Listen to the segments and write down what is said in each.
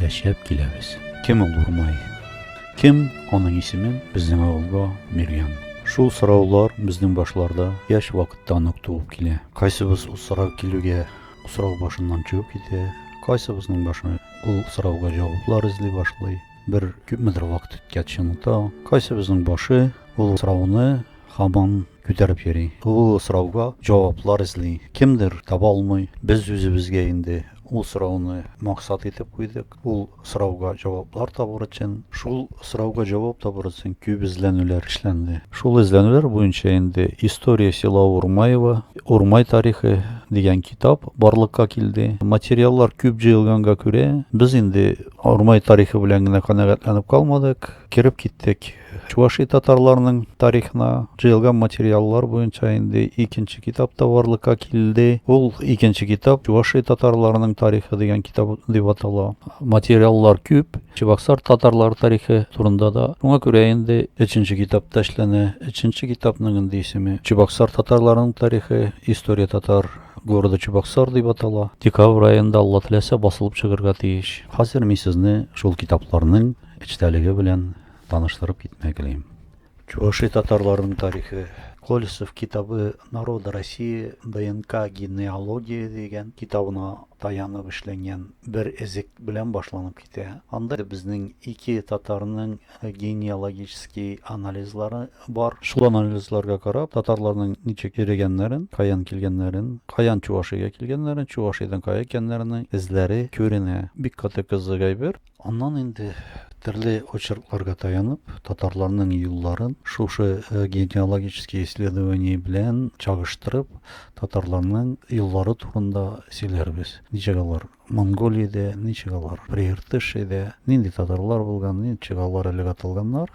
яшәп киләбез. Кем ул Урмай? Кем аның исемен безнең авылга биргән? Шул сораулар безнең башларда яшь вакыттан ук туып килә. Кайсыбыз ул сорау килүгә сорау башыннан чыгып китә, кайсыбызның башы ул сорауга җаваплар эзли башлый, бер күпмедер вакыт үткәч оныта, кайсыбызның башы ул сорауны һаман Күтәреп йөри. Ул сорауга җаваплар эзли. Кемдер таба алмый. Без үзебезгә инде ул сорауны максат итеп куйдык. Ул сорауга җаваплар табыр өчен, шул сорауга җавап табыр өчен күп эзләнүләр эшләнде. Шул эзләнүләр буенча инде История села Урмаева, Урмай тарихы дигән китап барлыкка килде. Материаллар күп җыелганга күрә, без инде Урмай тарихы белән генә канәгатьләнеп калмадык, кереп киттек Чуваши татарларының тарихына җыелган материаллар буенча инде икенче китап та барлыкка килде. Ул икенче китап Чуваши татарларының тарихы дигән китап дип атала. Материаллар күп, Чебоксар татарлары тарихы турында да. Шуңа күрә инде өченче китап та эшләнә. Өченче китапның инде исеме Чебоксар татарларының тарихы, История татар города Чебоксар дип атала. Декабрь аенда Алла теләсә басылып чыгырга тиеш. Хәзер мин сезне шул китапларның эчтәлеге белән таныштырып китмәк телим. Чуваши татарларының тарихы. Колесов китабы Народы России ДНК генеалогия дигән китабына таянып эшләнгән бер эзек белән башланып китә. Анда безнең ике татарның генеалогический анализлары бар. Шул анализларга карап, татарларның ничек йөрегәннәрен, каян килгәннәрен, каян Чувашига килгәннәрен, Чувашидан кая икәннәренең эзләре күренә. Бик каты кызык әйбер. Аннан инде төрле очеркларга таянып, татарларның юлларын шушы генеалогический исследование белән чагыштырып, татарларның юллары турында сөйләрбез. Ничек алар Монголиядә, ничек алар Прииртышиядә, нинди татарлар булган, ничек алар элек аталганнар.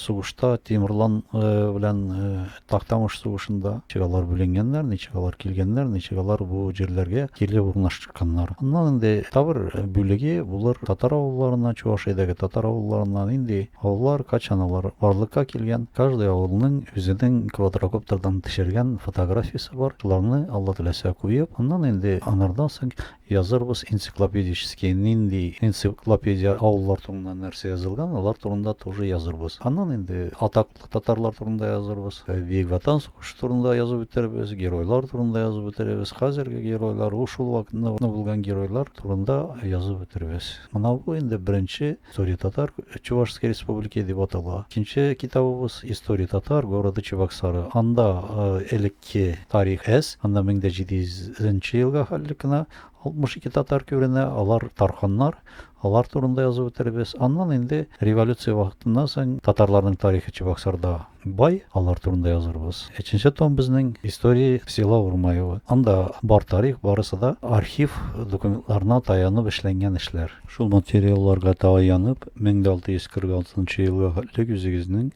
Сугышта Тимурлан белән Тактамыш сугышында ничек алар бүленгәннәр, ничек алар килгәннәр, ничек алар бу җирләргә кире урнашканнар. Аннан инде табыр бүлеге булыр татар авылларына, Чувашиядәге татар авылларына нинди авыллар, качан алар барлыкка килгән, каждый авылның үзенең квадрокоптердан төшергән фотографиясе бар. Шуларны Алла теләсә куеп, аннан инде анардан соң Язырбыз энциклопедический, нинди энциклопедия, авыллар турында нәрсә язылган, алар турында тоже язырбыз. Аннан инде атаклы татарлар турында язырбыз, Бөек Ватан сугышы турында язып үтербез, геройлар турында язып үтербез, хәзерге геройлар, ул шул вакытны булган геройлар турында язып үтербез. Менә бу инде беренче История татар Чувашской республики дип атала. Икенче китабыбыз История татар города Чебоксары. Анда элекке тарих әз. Анда 1700 елга хәлле кенә 62 татар күренә. Алар тарханнар. Алар турында язып үтербез. Аннан инде революция вакытыннан соң татарларның тарихы Чебоксарда Бай, алар турында язырбыз. Өченче том безнең Истории села Урмаево. Анда бар тарих, барысы да архив документларына таянып эшләнгән эшләр. Шул материалларга таянып, 1646 нчы елга хәтлек үзегезнең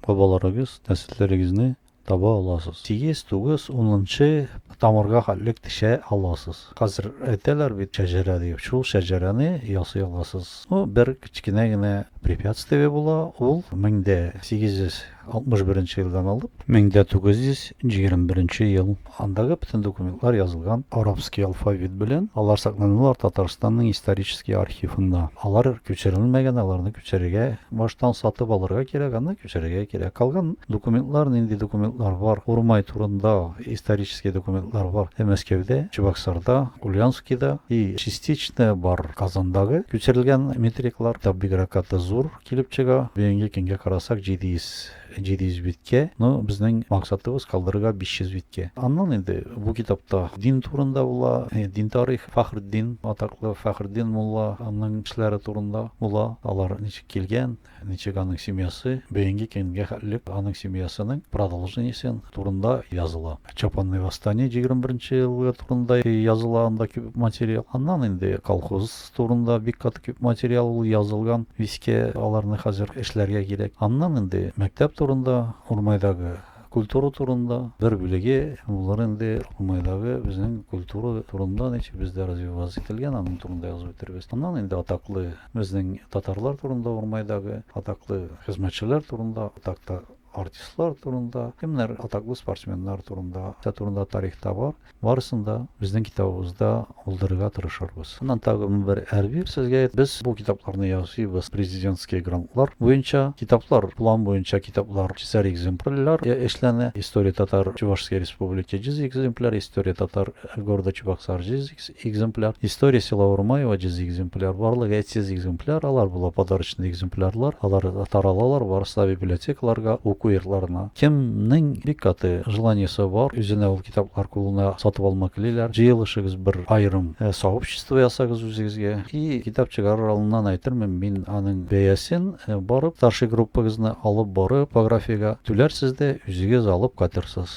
бабаларыгыз, нәселләрегезне таба аласыз. Сигез, тугыз, унынчы тамырга хәтлек төшә аласыз. Хәзер әйтәләр бит шәҗәрә дип, шул шәҗәрәне ясый аласыз. Ну, бер кечкенә генә препятствие була, ул 1861 нче елдан алып, 1921 нче ел. Андагы бөтен документлар язылган арабский алфавит белән, алар сакланалар Татарстанның исторический архивында. Алар күчерелмәгән, аларны Пешерергә баштан сатып алырга кирәк, аннан пешерергә кирәк. Калган документлар, нинди документлар бар? Урмай турында исторический документлар бар. И Мәскәүдә, Чебоксарда, Ульянскида и частично бар Казандагы күчерелгән метриклар. Китап бигрәкаты зур килеп чыга. Бүгенге көнгә карасак, 700 700 биткә, но безнең максатыбыз калдырырга 500 биткә. Аннан инде бу китапта дин турында була, дин тарих, Фәхретдин, атаклы Фәхретдин мулла ның эшләре турында була, алар ничек килгән, ничек аның семьясы бөенге көнгә хәтлек аның семьясының продолжениесен турында языла. Чапанный восстание 21 нче елгы турында языла анда күп материал. Аннан инде колхоз Турында бик каты күп материал ул язылган, искә аларны хәзер эшләргә кирәк. Аннан инде мәктәп турында, Урмайдагы культура турында бер бүлеге булыр инде, Урмайдагы безнең культура турында ничек бездә развиваться ителгән, аның турында язып бетерербез. Аннан инде атаклы безнең татарлар турында Урмайдагы, атаклы хезмәтчеләр турында атакта. Артистлар турында, кемнәр атаклы спортсменнар турында, нәрсә турында тарихта бар, барысын да безнең китабыбызда булдырырга тырышырбыз. Аннан тагын бер әрбир сезгә. Без бу китапларны ясыйбыз президентский грантлар буенча. Китаплар, план буенча китаплар чисар экземпрляр эшләнә. История татар-чувашской республики җиз экземпляр, история татар города Чебоксар җиз экземпляр, История села Урмаева 100 экземпляр, барлыгы 300 экземпляр, алар була подарочный экземплярлар, алар таралалар барысы да библиотекаларга, уку йортларына. Кемнең бик каты желаниесе бар, үзенә ул китаплар кулына сатып алма клиләр, җыелышыгыз бер аерым э, сообщество ясагыз үзегезгә. И китап чыгарыр алыннан әйтермен мин аның бәясен э, барып, старший группагызны алып барып, типографиягә түләрсез дә, үзегез алып кайтырсыз.